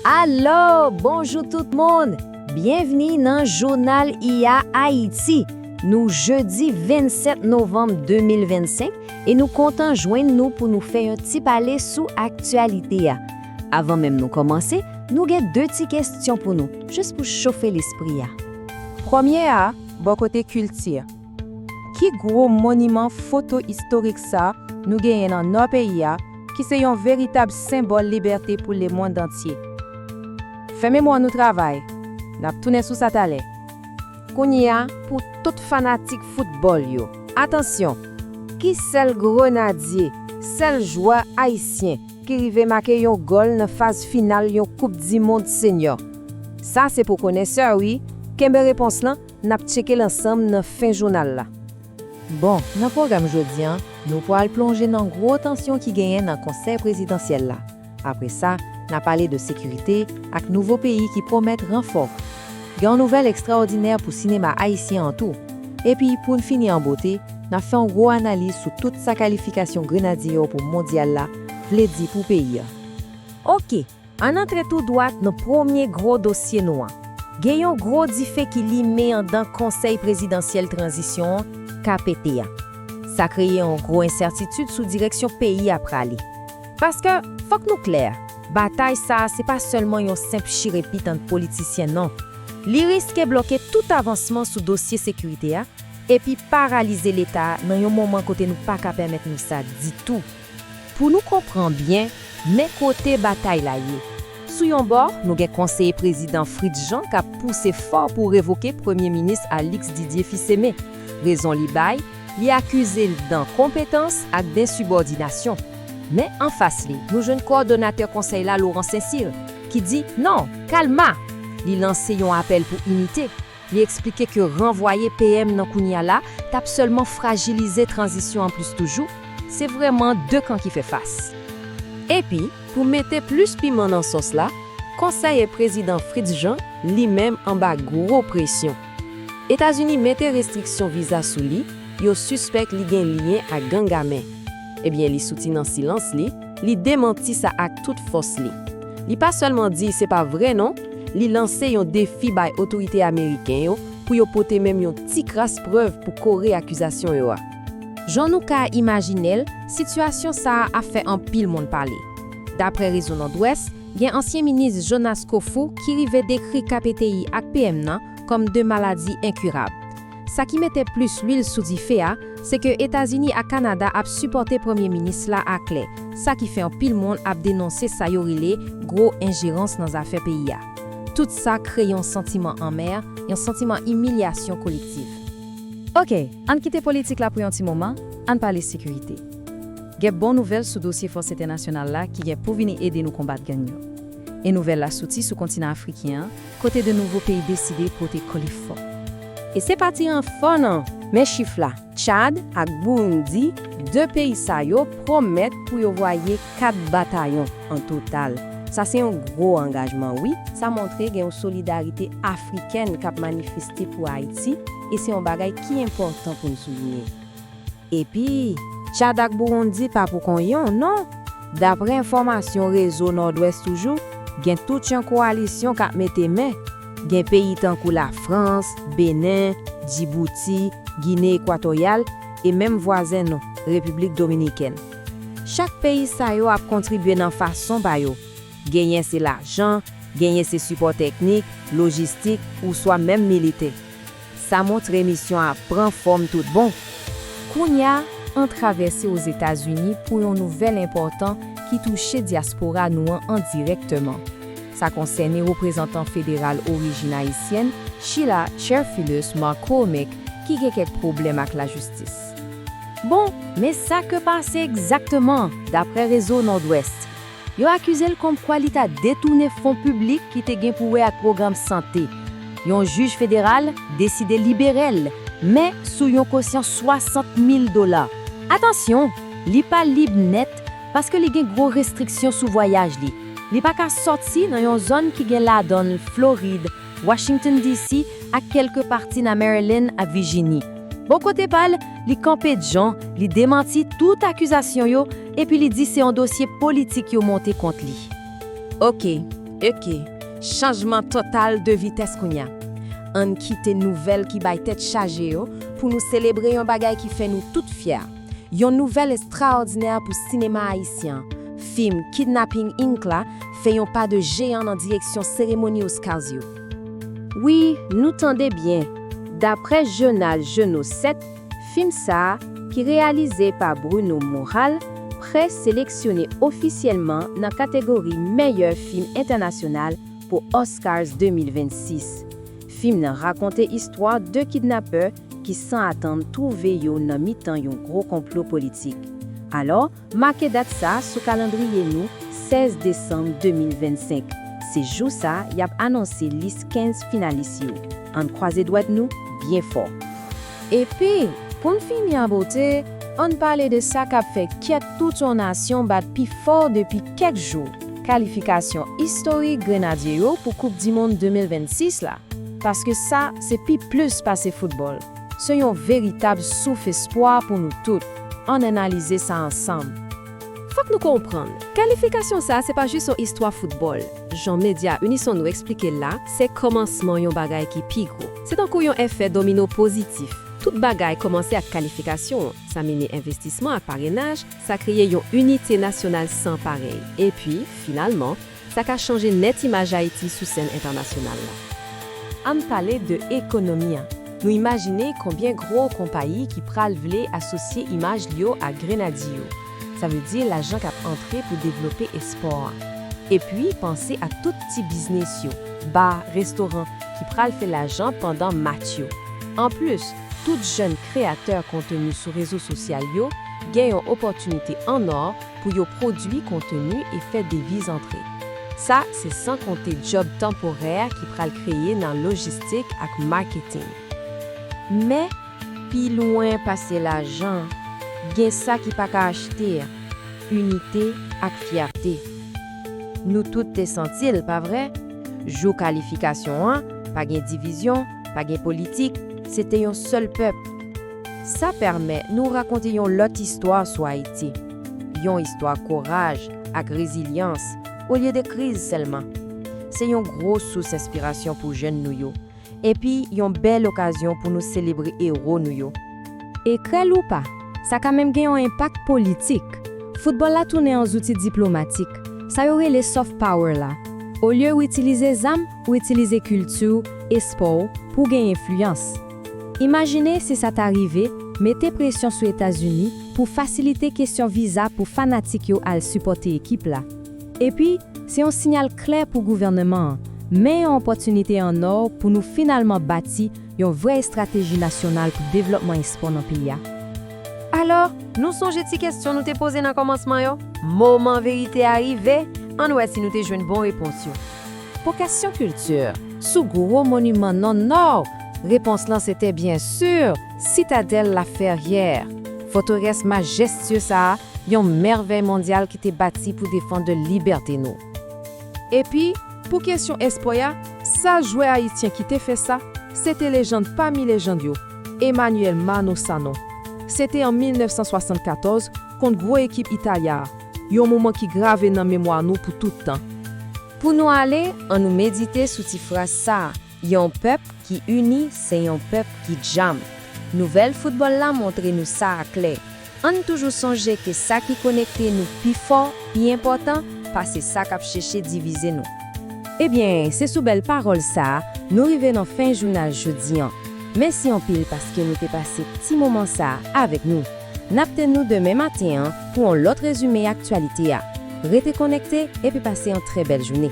Alo! Bonjou tout moun! Byenvni nan Jounal IA Ayiti! Nou jedi 27 novanm 2025 e nou kontan jwenn nou pou nou fè yon ti pale sou aktyalite a. Avan menm nou kòmanse, nou gen 2 ti kestyon pou nou, jis pou chofe lespri a. Premye a, bò kote kilti. Ki gwo moniman foto istorik sa nou genyen nan Nò peyi a ki se yon veritab senbòl libète pou lemondantye? Fè memwa nou travay, n ap tounen sou sa talè. Kounye a, pou tout fanatik foutbòl yo, atansyon! Ki sèl Grenadye, sèl jwè ayisyen ki rive make yon gòl nan faz final yon Koup Dimond Senyò? Sa se pou konèsè wi, kenbe repons lan N ap tcheke l ansanm nan fen jounal la. Bon, nan pwogram jodi an, nou pwal plonje nan gwo tansyon ki genyen nan Konsèy Prezidansyèl la. Apre sa, n a pale de sekirite ak nouvo peyi ki pwomèt ranfò. Gen yon nouvèl ekstraòdinè pou sinema ayisyen an tou. Epi, pou n fini an bote, n ap fè yon gwo analiz sou tout sa kalifikasyon Grenadye yo pou Mondyal la vle di pou peyi an. Oke! Ann antre tou dwat nan premye gwo dosye nou an. Gen yon gwo dife ki limen andan Konsèy Prezidansyèl Tranzisyon an, kpt, a. Sa kreye yon gwo ensètitid sou direksyon peyi a prale. Paske, fòk nou klè, batay sa a se pa sèlman yon senp chirepit ant politisyen non. Li riske bloke tout avansman sou dosye sekirite a epi paralize Leta a nan yon moman kote nou pa ka pèmèt nou sa ditou. Pou nou konpran byen, men kote batay la ye. Sou yon bò, nou gen konseye prezidan Fritz Jean k ap pouse fò pou revoke premye minis Alix Didier Fils-Aimé. Rezon li bay, li akize l dan konpetans ak densibòdinasyon. Men anfas li, nou jwenn kòdonatè konsèy la Laurent Saint-Cyr, ki di, non! Kalma! Li lanse yon apèl pou inite. Li eksplike ke ranvwaye PM nan kounya la tap sèlman frajilize tranzisyon an plis toujou, se vrèman 2 kan ki fè fas. Epi, pou mete plis piman nan sòs la, konsèye prezidan Fritz Jean li menm anba gwo presyon. Etazini mete restriksyon viza sou li, yo sispèk li gen lyen ak gang ame. Ebyen li souti nan silans li, li demanti sa ak tout fòs li. Li pa sèlman di se pa vre non, li lanse yon defi bay otorite ameriken yo pou yo pote menm yon ti kras prèv pou kore akizasyon yo a. Jan nou ka imajine l, sitiyasyon sa a ap fè anpil moun pale. Daprè Rezo Nòdwès, gen ansyen minis Jonas Kofou ki rive dekri KPTI ak PM nan kòm 2 maladi enkirab. Sa ki mete plis lwil sou dife a, se ke Etazini ak Kanada ap sipòte premye minis la aklè, sa ki fè anpil moun ap denonse sa yo rele gwo enjerans nan zafè peyi a. Tout sa kreye yon santiman anmè, yon santiman imilyasyon kolektiv. Ok, ann kite politik la pou yon ti moman, ann pale sekirite. Gen bon nouvèl sou dosye fòs entènasyonal la ki gen pou vini ede nou konbat gang yo. E nouvèl la soti sou kontinan afriken an, Kote de nouvo peyi deside pote kò li fò. E se pa ti ranfò nan! Men chif la, Tchad ak Burundi, 2 peyi sa yo pwomèt pou yo voye 4 batayon an total. Sa se yon gwo angajman wi, sa montre gen yon solidarite afrikèn k ap manifeste pou Ayiti e se yon bagay ki enpòtan pou n soulinye. Epi, Tchad ak Bouroundi pa pou kon yon, non! Daprè enfòmasyon Rezo Nòdwès toujou, gen tout yon koalisyon k ap mete men. Gen peyi tankou Lafrans, Benen, Djibouti, Gine Ekwatoryal e menm vwazen nou, Repiblik Dominikèn. Chak peyi sa yo ap kontribye nan fason pa yo, genyen se lajan, genyen se sipò teknik, lojistik ouswa menm militè. Sa montre misyon a pran fòm tout bon. Kounye a, an travèse Ozetazini pou yon nouvèl enpòtan ki touche dyaspora nou an endirèkteman. Sa konsène reprezantan federal orijin ayisyèn Sheila Cherfilus McCormick ki gen kèk pwoblèm ak lajistis. Bon, men sa ke pase egzakteman, daprè Rezo Nòdwès. Yo akize l kòmkwa li ta detounen fon piblik ki te gen pou wè ak pwogram sante. Yon jij federal deside libere l, men sou yon kosyon 60 mil dola. Atansyon, li pa lib nèt paske li gen gwo restriksyon sou vwayaj li. Li pa ka sòti nan yon zòn ki gen ladan l Florid Washington, DC. ak kèlke pati nan Maryland ak Vijini. Bò kote pa l, li kanpe djan, li demanti tout akizasyon yo epi li di se yon dosye politik yo monte kont li. Ok, ok, chanjman total de vitès kounya. Ann kite nouvèl ki bay tèt chaje yo pou nou selebre yon bagay ki fè nou tout fyè. Yon nouvèl estraòdinè pou sinema ayisyen, fim Kidnapping Inc la fè yon pa de jeyan nan direksyon seremoni Oscars yo. Wi, nou tande byen, daprè jounal Jeunot 7, fim sa a, ki reyalize pa Bruno Moral, pre seleksyone ofisyèlman nan kategori meyè fim entènasyonal pou Oscars 2026. Fim nan rakonte istwa 2 kidnapè ki san atann twouve yo nan mitan yon gwo konplo politik. Alò, make dat sa sou kalandriye nou, 16 desanm 2025, se jou sa y ap anonse lis 15 finalis yo. Ann kwaze dwèt nou byen fò. Epi, pou n fini an bote, ann pale de sa k ap fè kè tout yon nasyon bat pi fò depi kèk jou, kalifikasyon istorik Grenadye yo pou Koupdimonn 2026 la. Paske sa. Se pi plis pase foutbòl. Se yon veritab souf espwa pou nou tout. Ann analize sa ansanm. Fòk nou konprann, kalifikasyon sa se pa jis yon istwa foutbòl. Jan medya Unison nou esplike l la, se kòmansman yon bagay ki pi gwo. Se tankou yon efè domino pozitif. Tout bagay kòmanse ak kalifikasyon an. Sa mennen envestisman ak parenaj, sa kreye yon inite nasyonal san parèy. Epi, finalman, Sa ka chanje nèt imaj Ayiti sou sèn entènasyonal la. Ann pale de ekonomi an. Nou imajine konbyen gwo konpayi ki pral vle asosye imaj li yo a Grenadye yo. Sa vle di lajan k ap antre pou devlope espò an. Epi panse ak tout ti biznis yo, ba, restoran, ki pral fè lajan pandan match yo. Anplis, tout jèn kreyatè konteni sou rezo sosyal yo gen yon opòtinite annò pou yo pwodui konteni e fè deviz antre. Sa se san konte djòb tanporè ki pral kreye nan lojistik ak maketing. Men, pi lwen pase lajan, gen sa ki pa ka achte, inite ak fyète. Nou tout te santi l, pa vre? Jou kalifikasyon an, pa gen divizyon, pa gen politik, se te yon sèl pèp. Sa pèmè nou rakonte yon lòt istwa sou Ayiti, yon istwa kouraj ak rezilyans olye de kriz sèlman. Se yon gwo sous enspirasyon pou jèn nou yo, epi yon bèl okazyon pou nou selebre ewo nou yo. E krè l ou pa, sa ka menm gen yon enpak politik. Foutbòl la tounen yon zouti diplomatik, sa yo rele soft power la. Olye ou itilize zam, ou itilize kilti w, espò w, pou w gen enfliyans. Imajine si sa ta rive, mete presyon sou Etazini pou fasilite kesyon viza pou fanatik yo al sipòte ekip la. Epi, se yon sinyal klè pou gouvèneman an, men yon opòtinite an ò pou nou finalman bati yon vrè estrateji nasyonal pou devlòpman espò nan peyi a. Alò, nou sonje ti kesyon nou te poze nan kòmansman yo? Moman verite a rive, ann wè si nou te jwenn bon repons yo. Pou kesyon kilti, sou gwo moniman nan Nò, repons lan se te byen si Sitadèl Laferyè. Fòtèrès majestye sa a, yon mèvèy mondyal ki te bati pou defann de libète nou. Epi, pou kesyon espò a, sèl jwè ayityen ki te fè sa, se te lejand pami lejand yo, Emmanuel Manno Sanon. Se te an 1974, kont gwo ekip Italya a, yon moman ki grave nan memwa nou pou tout tan. Pou nou ale, an nou medite sou ti fraz sa a, Yon pèp ki ini se yon pèp ki djanm. Nouvèl foutbòl la montre nou sa a klè. Ann toujou sonje ke sa ki konekte nou pi fò, pi enpòtan pase sa k ap cheche divize nou. Ebyen, se sou bèl pawòl sa a, nou rive nan fen jounal jodi an. Mèsi anpil paske nou te pase ti moman sa a avèk nou. N ap tann nou demen maten an pou on lòt rezime aktyalite a. Rete konekte epi pase on trè bèl joune.